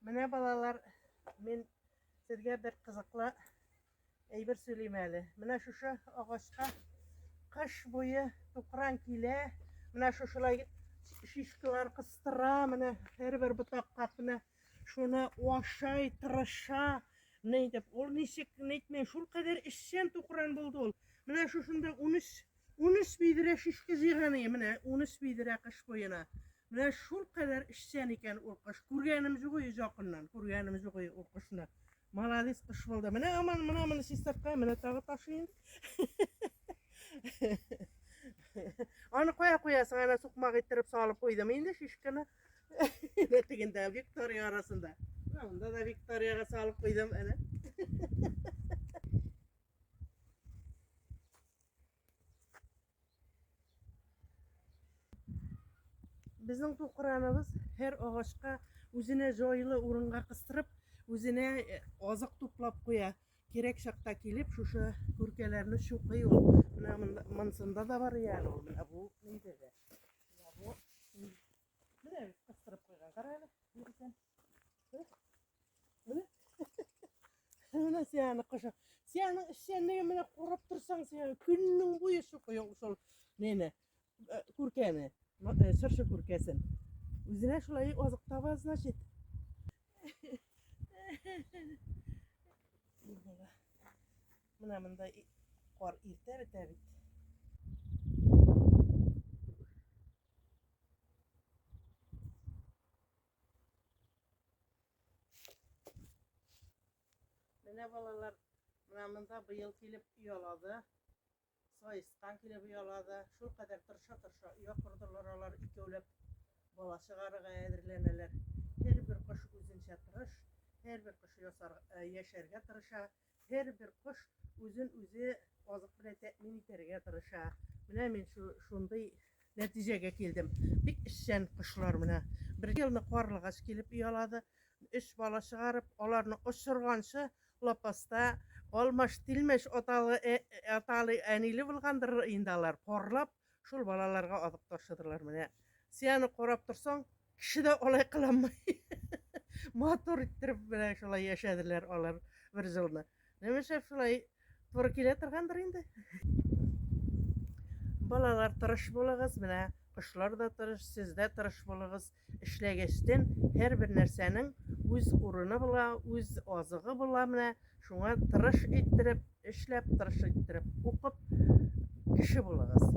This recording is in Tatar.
Менә балалар, мин сезгә бер кызыклы әйбер сөйлим әле. Менә шушы агачка кыш буе тукран килә. Менә шушылай шишкалар кыстыра, менә һәрбер ботакка менә шуны ашай, тырыша. Менә итеп, ул ничек, нитми, шул кадәр эшчән тукран булды ул. Менә шушында 13 Унөч бидрә шишке җыйганы, менә унөч бидрә кыш буена. Менә шул кадәр эшчән икән ул кыш. Күргәнем юк и якыннан, күргәнем юк и ул кышны. Молодец кыш булды. Менә аман, менә моны чистартка, менә тагы ташый инде. Аны кая куясың, ана сукмак иттереп салып куйдым инде шишканы. Менә тегендә Виктория арасында. Анда да Викторияга салып куйдым, әнә. Безнең бу кыраныбыз һәр агачка үзенә җайлы урынга кыстырып, үзенә э, азык туплап куя. Кирәк чакта килеп, шушы күркәләрне чукый ул. Менә монсында да бар әле ул, менә бу нидә дә. Менә бит кыстырып куйган. Кара әле, бер икән. Менә. Менә сияны кышы. Сияның эшчәнлеге менә курап торсаң, сияны көннең буе шукый шул неме? Э, күркәне, э, шыршы күркәсен. Үзенә шулай азык таба, значит. Менә монда кар иртә бетә бит. Менә балалар, менә монда быел килеп оялады. Саескан килеп оялады. Шул кадәр тырша-тырша оя кордылар алар икәүләп. Бала чыгарырга әзерләнәләр. Һәрбер кош үзенчә тырыш, һәрбер кош ясар, яшәргә тырыша. Һәрбер кош үзен үзе азык белән тәэмин итәргә тырыша. Менә мин шу, шундый нәтиҗәгә килдем. Бик эшчән кошлар менә. Бер елны карлыгач килеп оялады. Өч бала чыгарып, аларны очырганчы лапаста алмаш-тилмәш аталы, ә, аталы, әниле булгандыр инде алар. Парлап, Шул балаларга азык ташыдылар менә. Сияны корап торсаң, кеше дә алай кыламый. Матур иттереп менә шулай яшәделәр алар бер җылны. Немешә шулай туры килә торгандыр инде. Балалар тырыш булыгыз, менә кошлар да тырыш, сез дә тырыш булыгыз. Эшләгәчтен һәрбер нәрсәнең үз урыны була, үз азыгы була менә. Шуңа тырыш иттереп, эшләп тырыш иттереп укып кеше булыгыз.